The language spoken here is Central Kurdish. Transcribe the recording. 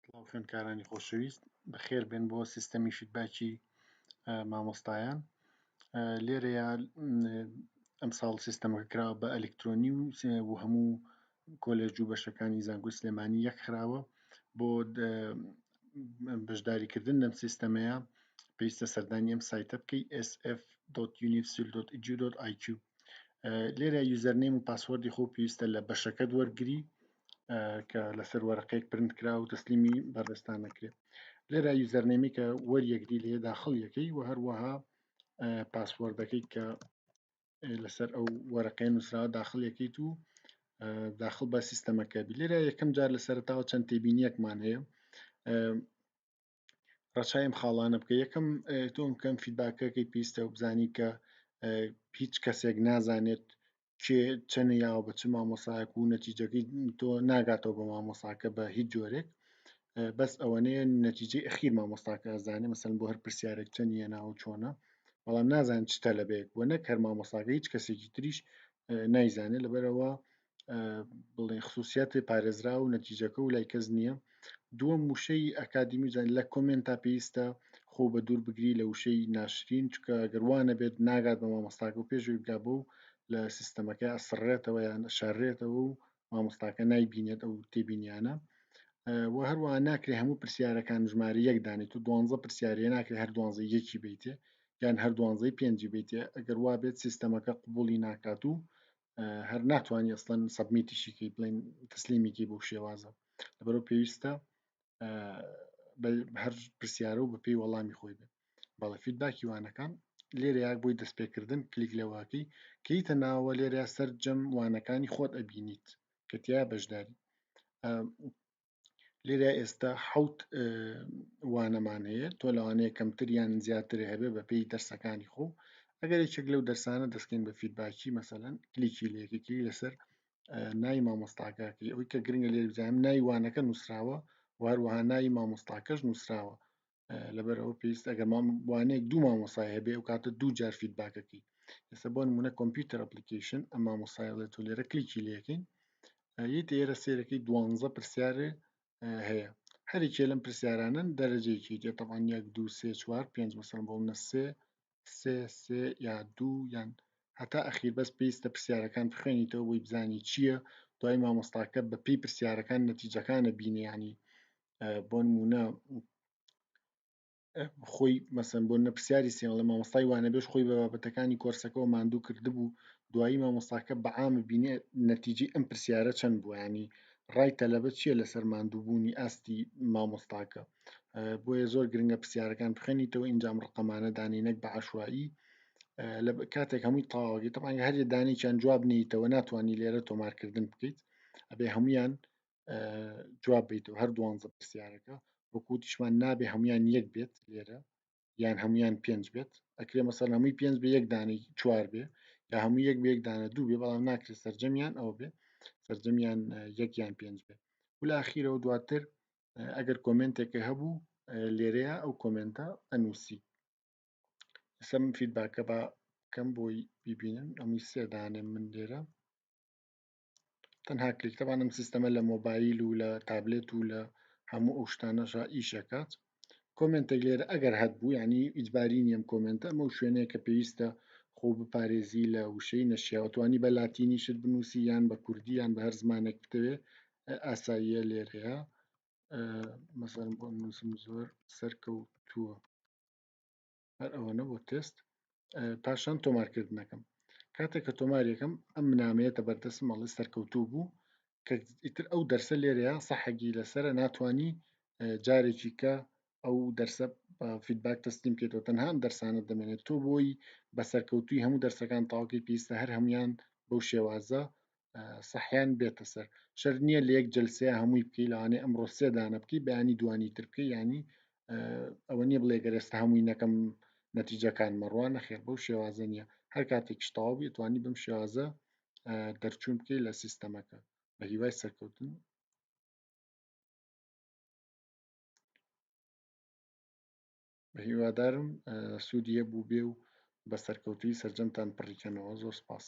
سڵاو خوێندکارانی خۆشەویست بەخێر بێن بۆ سیستەمی فیدباکی مامۆستایان لێرەیە ئەمساڵ سیستەمەکە کراوە بە ئەلکترۆنی و و هەموو کۆلێژ و بەشەکانی زانکۆی سلێمانی یەک خراوە بۆ بەشداریکردن لەم سیستەمەیە پێویستە سەردانی ئەم سایتە بکەی sf.unifsil.edu.iq لێرە یوزەرنیم و پاسوەردی خۆ پێویستە لە بەشەکەت وەرگری کە لەسەر وەرەقەیەک پرنت کرا و تەسلیمی بەردەستان نەکرێت لێرا یوزەرنێمی کە وەریەکدی لێ داخڵ یەکەی و هەروەها پاسوەردەکەی کە لەسەر ئەو وەرەقەیە نووسراوە داخل یەکەیت و داخل بە سیستەمەکە بی لێرا یەکەم جار لە سەرتاوە چەند تێبینیەکمان هەیە ڕەچاوی ئەم خاڵانە بکە یەکەم تۆم کەم فیدباکەکەی پیستە و بزانی کە هیچ کەسێک نازانێت کێ چەنە یاوە بە چ مامۆساک و نەتیجەکەی تۆ ناگاتەوە بە مامۆساکە بە هیچ جۆرێک بەس ئەوەنەیە نەتیجەی ئەخیر مامۆستاکە ئەزانێ مەسەن بۆ هەر پرسیارێک چەند یە ناوە چۆنە بەڵام نازان چتە لەبێت بۆ نەکەر مامۆساگە هیچ کەسێکی تریش نایزانێت لەبەرەوە بڵێ خصوصیاتی پارێزرا و نەتیجەکە و لای کەس نییە دووەم وشەی ئەکادمی جان لە کۆمنت تا پێویستە خۆ بە دوور بگری لە وشەی ناشرین چکە گەروانە بێت ناگات بە مامۆستاکە و پێشوی بگا بۆ و لە سیستەمەکە ئەسڕێتەوە یان شارێتەوە و مامۆستاکە نایبینێت ئەو تێبینیانە و هەروە ناکرێ هەموو پرسیارەکان ژمارە یەک دانێت و دوانزە پرسیارە ناکرێ هەر دوانزە یەکی بیتێ یان هەر دوانزەی پێنجی بیتێ ئەگەر وابێت سیستەمەکە قوبولی ناکات و هەر ناتوانانی ئەسڵەن سەبمیتیشیکی بڵین تەسلیمیکی بۆ شێوازە لەبەرو پێویستە هەر پرسیارە و بەپی وەڵامی خۆی بێت بەڵە فیدباکی وانەکان لێرەیاک بۆی دەستپێکردن کلیک لەواکی کەیتە ناوە لێرە سەرجەم وانەکانی خۆت ئەبینیت کەتیا بەشداری لێرە ئێستا حوت وانەمان هەیە تۆ لەوانەیە کەمتر یان زیاتر هەبێ بە پێی دەرسەکانی خۆ ئەگەر یەکێک لەو دەرسانە دەستکەین بە فیدباکی مەسەەن کلیکی لەکێکی لەسەر نای مامۆستاکەکەی ئەوی کە گرنگە لێ بزانام نایوانەکە نووسراوە وهروەها ناوی مامۆستاکەش نووسراوە لەبەر ئەوە پێویست ئەگەر وانەیەک دوو مامۆسای هەبێ و کاتە دوو جار فیدباکەکەی ئێستا بۆ نمونە کۆمپیوتەر ئەپلیکیشن ئەم مامۆسایڵێ تۆ لێرە کلیکی لەکەین یت ئێرە سێرەکەی دوانزە پرسیارێ هەیە هەرێکێ لەم پرسیارانن دەرەجەیەکی دێتەوان یەک دو سێ چوار پێنج مەسەن بۆ منە سێ سێ سێ یا دوو یان هەتا ئەخیر بەس پێویستە پرسیارەکان بخوێنیتەوە بۆی بزانی چییە دوای مامۆستاکە بە پێی پرسیارەکان نەتیجەکانە بینیانی بۆ نمونە خۆی مەسم بۆ نەپسیاری سێڵە مامۆستای وانە بێش خۆی بە بابەتەکانی کۆرسەکەەوە ماندوو کردبوو دوایی مامۆستاکە بەعاامە بینێ نەتیجی ئەم پرسیارە چەند بووانی ڕای تەلەبە چییە لەسەر ماندووبوونی ئاستی مامۆستاکە بۆیە زۆر گرنگە پرسیارەکان بخوێنیتەوە ئینجام ڕقەمانە دانی نەک بە عشایی لە کاتێک هەمووی تەواوەگەی تەمان هەر دانێکیان جواب نیتەوە ناتوانانی لێرە تۆمارکردن بکەیت ئەبێ هەمویان جواب بیتەوە هەر دوانزە پرسیارەکە وەکوتیشمان نابێ هەمویان یەک بێت لێرە یان هەمویان پێنج بێت ئەکرێ مەسەر هەمووی پێنج بە یەک دانی چوار بێ یا هەموو یەک بێک دانە دوو بێ بەڵام ناکرێت سرجەمیان ئەو بێ سرجەمیان یەکیان پێنج بێ ولاخیرەوە دواتر ئەگەر کۆمنتێکی هەبوو لێرەیە ئەو کۆمنتە ئەنووسی ئسم فیدباکە بە کەم بۆی بیبینن ئەمووی سێدانێ من لێرە تەنها کلیکتەبانم سیستەمە لە مۆبایل و لە تابلێت و لە هەموو ئەو شتانەشە ئیشەکات کۆمنتێک لێرە ئەگەر هەت بوو ینی ئیجباری نیەم کۆمنتە ئەمە شوێنەیە کە پێویستە خۆ بپارێزی لە وشەی نەشیاوتوانی بە لاتینی شت بنووسی یان بە کوردیان بە هەر زمانێک بتەوێ ئاساییە لێرەیە مەسەرم بۆ نووسم زۆر سەرکەوتووە هەر ئەوەنە بۆ تست پاشان تۆمارکردنەکەم کاتێک کە تۆماریەکەم ئەم منامەیەتە بەردەست مەڵی سەرکەوتوو بوو کە ئیتر ئەو دەرسە لێرەیە سەحەگی لەسرە ناتانی جارێکی کە ئەو دەرسە فیدباک تەسلیم کێتەوە تەنها ئەم دەرسانە دەمێنێت تۆ بۆی بە سەرکەوتوی هەموو دەرسەکان تاوکەی پێویستە هەر هەمویان بەو شێوازە سەحیان بێتە سەر شەر نییە لە یەک جلسەیە هەمووی بکەی لەوانێ ئەم ڕۆسێ دانە بکەی بەیانی دوانی تر بکەی ینی ئەوە نییە بڵێ گەرێستا هەمووی نەکەم نەتیجەکان مەڕوان نەخێر بەو شێوازە نییە هەر کاتێک شتاو بێت توانی بم شێوازە دەرچوون بکەی لە سیستەمەکە بە هیوای سەرکەوتن هیوادارم سوودی هەبوو بێ و بە سەرکەوتووی سەرجەمتان پڕیکەنەوە زۆر سپاس.